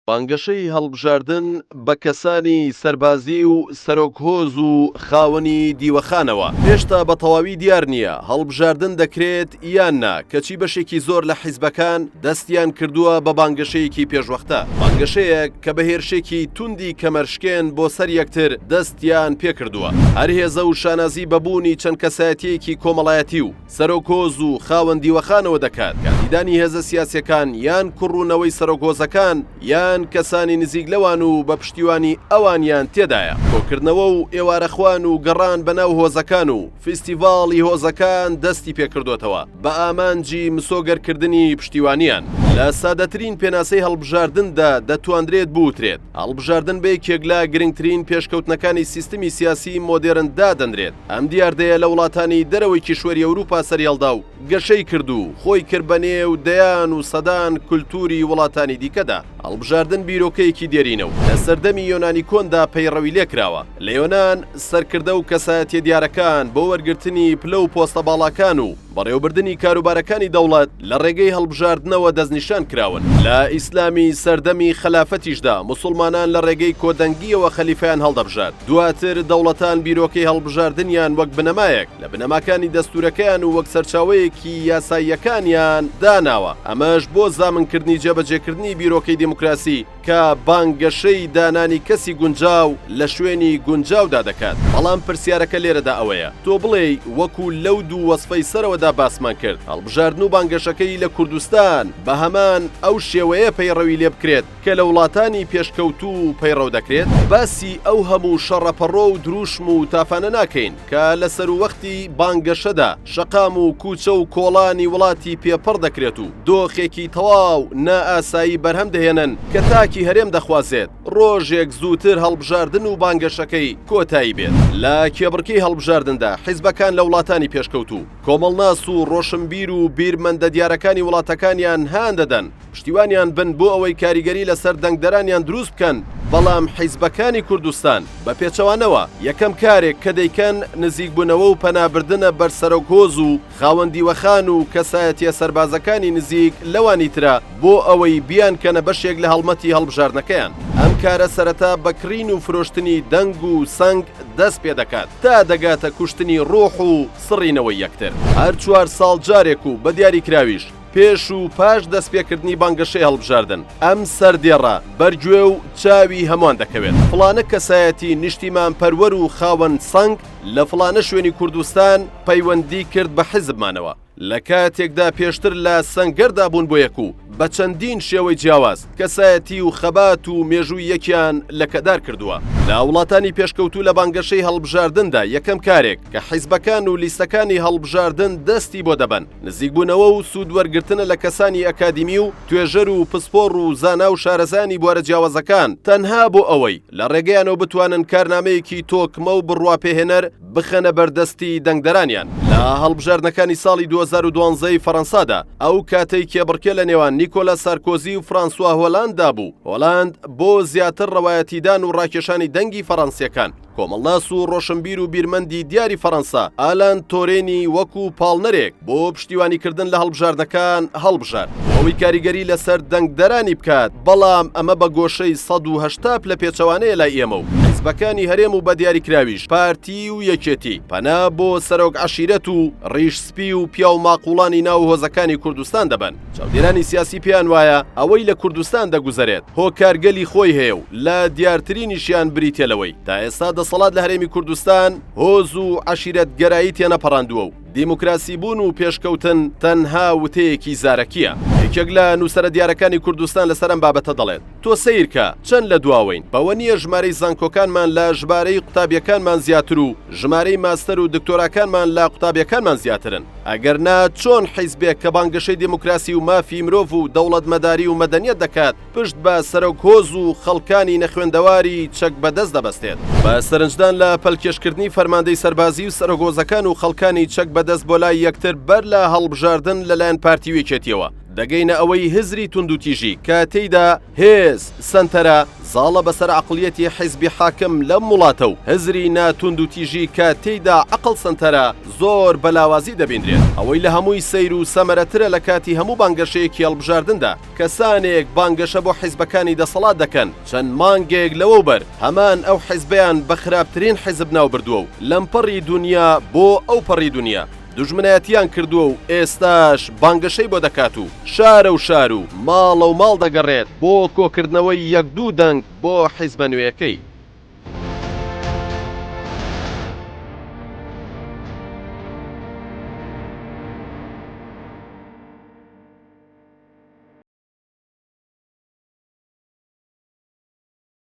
بانگەشەی هەڵبژاردن بە کەسانی سەربازی و سەرۆک هۆز و خاوەنی دیوەخانەوە هێشتا بە تەواوی دیار نییە، هەڵبژاردن دەکرێت یان نا، کەچی بەشێکی زۆر لە حیزبەکان دەستیان کردووە بە بانگەشەیەکی پێشوەختە، بانگەشەیەک کە بە هێرشێکی توندی کەمەرشکێن بۆ سەر یەکتر دەستیان پێکردووە. هەر هێزە و شانازی بە بوونی چەند کەسایەتییەکی کۆمەڵایەتی و سەرۆک هۆز و خاوەن دیوەخانەوە دەکات، کاندیدانی هێزە سیاسییەکان یان کوڕ و نەوەی سەرۆک هۆزەکان یان کەسانی نزیک لەوان و بە پشتیوانی ئەوانیان تێدایە. کۆکردنەوە و ئێوارەخوان و گەڕان بە ناو هۆزەکان و، فیستیڤاڵی هۆزەکان دەستی پێکردۆتەوە بە ئامانجی مسۆگەرکردنی پشتیوانیان. لە سادەترین پێناسەی هەڵبژاردندا دەتوانرێت بوترێت، هەڵبژاردن بە یەکێک لە گرنگترین پێشکەوتنەکانی سیستمی سیاسیی مۆدێرن دادەنرێت، ئەم دیاردەیە لە وڵاتانی دەرەوەی کیشوەری ئەوروپا سەریهەڵدا و گەشەی کرد و خۆی کرد بە نێو دەیان و سەدان کولتووری وڵاتانی دیکەدا. هەڵبژاردن بیرۆکەیەکی دێرینە و لە سەردەمی یۆنانی کۆندا پەیڕەوی لێکراوە. لە یۆنان، سەرکردە و کەسایەتییە دیارەکان بۆ وەرگرتنی پلە و پۆستە باڵاکان و بەڕێوەبردنی کاروبارەکانی دەوڵەت لە ڕێگەی هەڵبژاردنەوە دەستنیشان کراون. لە ئیسلامی سەردەمی خەلافەتیشدا، موسڵمانان لە ڕێگەی کۆدەنگییەوە خەلیفەیان هەڵدەبژارد. دواتر دەوڵەتان بیرۆکەی هەڵبژاردنیان وەک بنەمایەک، لە بنەماکانی دەستوورەکەیان و وەک سەرچاوەیەکی یاساییەکانیان داناوە، ئەمەش بۆ زامنکردنی جێبەجێکردنی بیرۆکەی دیموکراسی کە بانگەشەی دانانی کەسی گونجاو لە شوێنی گونجاودا دەکات. بەڵام پرسیارەکە لێرەدا ئەوەیە، تۆ بڵێی وەکو لەو دوو وەسفەی سەرەوەدا باسمان کرد، هەڵبژاردن و بانگەشەکەی لە کوردستان بە هەمان ئەو شێوەیە پەیڕەوی لێبکرێت، کە لە وڵاتانی پێشکەوتوو پەیڕەو دەکرێت؟ باسی ئەو هەموو شەڕەپەڕۆ و درووشم و تافانە ناکەین، کە لە سەرووەختی بانگەشەدا، شەقام و کووچە و کۆڵانی وڵاتی پێ پڕ دەکرێت و دۆخێکی تەواو نائاسایی بەرهەم دەهێنن، کە تاکی هەرێم دەخوازێت ڕۆژێک زووتر هەڵبژاردن و بانگەشەکەی کۆتایی بێت. لە کێبڕکێی هەڵبژاردندا، حیزبەکان لە وڵاتانی پێشکەوتوو، کۆمەڵناس و ڕۆشنبیر و بیرمەندە دیارەکانی وڵاتەکانیان هان دەدەن، پشتیوانیان بن بۆ ئەوەی کاریگەری لەسەر دەنگدەرانیان دروست بکەن، بەڵام حیزبەکانی کوردستان بە پێچەوانەوە یەکەم کارێک کە دەیکەن نزیکبوونەوە و پەنابردنە بەر سەرۆک هۆز و خاوەن دیوەخان و کەسایەتیە سەربازەکانی نزیک لەوانی ترە بۆ ئەوەی بیانکەنە بەشێک لە هەڵمەتی هەڵبژاردنەکەیان. ئەم کارە سەرەتا بە کڕین و فرۆشتنی دەنگ و سەنگ دەست پێ دەکات تا دەگاتە کوشتنی ڕۆح و سڕینەوەی یەکتر هەر چوار ساڵ جارێک و بە دیاریکراویش. پێش و پاش دەستپێکردنی بانگەشەی هەڵبژاردن، ئەم سەردێڕە بەر گوێ و چاوی هەمووان دەکەوێت، فڵانە کەسایەتی نیشتیمانپەروەر و خاوەن سەنگ لە فڵانە شوێنی کوردستان پەیوەندی کرد بە حیزبمانەوە، لە کاتێکدا پێشتر لە سەنگەردا بوون بۆ یەک و بە چەندین شێوەی جیاواز کەسایەتی و خەبات و مێژووی یەکیان لەکەدار کردووە. لە وڵاتانی پێشکەوتوو لە بانگەشەی هەڵبژاردندا یەکەم کارێک کە حیزبەکان و لیستەکانی هەڵبژاردن دەستی بۆ دەبەن، نزیکبوونەوە و سوود وەرگرتنە لە کەسانی ئەکادیمی و توێژەر و پسپۆڕ و زانا و شارەزایانی بوارە جیاوازەکان تەنها بۆ ئەوەی لە ڕێگەیانەوە بتوانن کارنامەیەکی تۆکمە و بڕواپێهێنەر بخەنە بەردەستی دەنگدەرانیان. لە هەڵبژاردنەکانی ساڵی دوو هەزار و دوازدە ی فەرەنسادا، ئەو کاتەی کێبڕکێ لە نێوان نیکۆلا سارکۆزی و فرانسوا هۆلانددا بوو، هۆلاند بۆ زیاتر ڕەوایەتیدان و ڕاکێشانی دەنگی فەرەنسییەکان، کۆمەڵناس و ڕۆشنبیر و بیرمەندی دیاری فەڕەنسا ئالان تۆرێنی وەکو پاڵنەرێک بۆ پشتیوانیکردن لە هەڵبژاردەکان هەڵبژارد بۆ ئەوەی کاریگەری لەسەر دەنگدەرانی بکات، بەڵام ئەمە بە گۆشەی سەد و هەشتا پلە پێچەوانەیە لای ئێمە و حیزبەکانی هەرێم و بە دیاریکراویش پارتی و یەکێتی، پەنا بۆ سەرۆک عەشیرەت و ڕیش سپی و پیاوماقوڵانی ناو هۆزەکانی کوردستان دەبەن. چاودێرانی سیاسی پێیان وایە ئەوەی لە کوردستان دەگوزەرێت هۆکار گەلی خۆی هەیە و لە دیارترینیشیان بریتیە لەوەی تا ئێستا دەسەڵات لە هەرێمی کوردستان هۆز و عەشیرەت گەرایی تێنەپەڕاندووە و دیموکراسی بوون و پێشکەوتن تەنها وتەیەکی زارەکیە. یەکێک لە نووسەرە دیارەکانی کوردستان لەسەر ئەم بابەتە دەڵێت، تۆ سەیرکە چەند لە دواوەین، بەوە نییە ژمارەی زانکۆکانمان لە ژمارەی قوتابیەکانمان زیاتر و ژمارەی ماستەر و دکتۆراکانمان لە قوتابیەکانمان زیاترن، ئەگەر نا چۆن حیزبێک کە بانگەشەی دیموکراسی و مافی مرۆڤ و دەوڵەتمەداری و مەدەنیەت دەکات پشت بە سەرۆک هۆز و خەڵکانی نەخوێندەواری چەک بەدەست دەبەستێت؟ بە سەرنجدان لە پەلکێشکردنی فەرماندەی سەربازی و سەرۆک هۆزەکان و خەڵکانی چەک بەدەست بۆ لای یەکتر بەر لە هەڵبژاردن لەلایەن پارتی و یەکێتیەوە، دەگەینە ئەوەی هزری توندوتیژی کە تێیدا هێز سەنتەرە زاڵە بەسەر عەقڵیەتی حیزبی حاکم لەم وڵاتە و هزری نا توندوتیژی کە تێیدا عەقڵ سەنتەرە زۆر بە لاوازی دەبینرێت ئەوەی لە هەمووی سەیر و سەمەرەترە لە کاتی هەموو بانگەشەیەکی هەڵبژاردندا کەسانێک بانگەشە بۆ حیزبەکانی دەسەڵات دەکەن چەند مانگێک لەوەوبەر هەمان ئەو حیزبەیان بە خراپترین حیزب ناوبردووە و لەمپەڕی دونیا بۆ ئەوپەڕی دونیا دوژمنایەتیان کردووە و ئێستاش بانگەشەی بۆ دەکات و شارە و شار و ماڵە و ماڵ دەگەڕێت بۆ کۆکردنەوەی یەک دوو دەنگ بۆ حیزبە نوێیەکەی.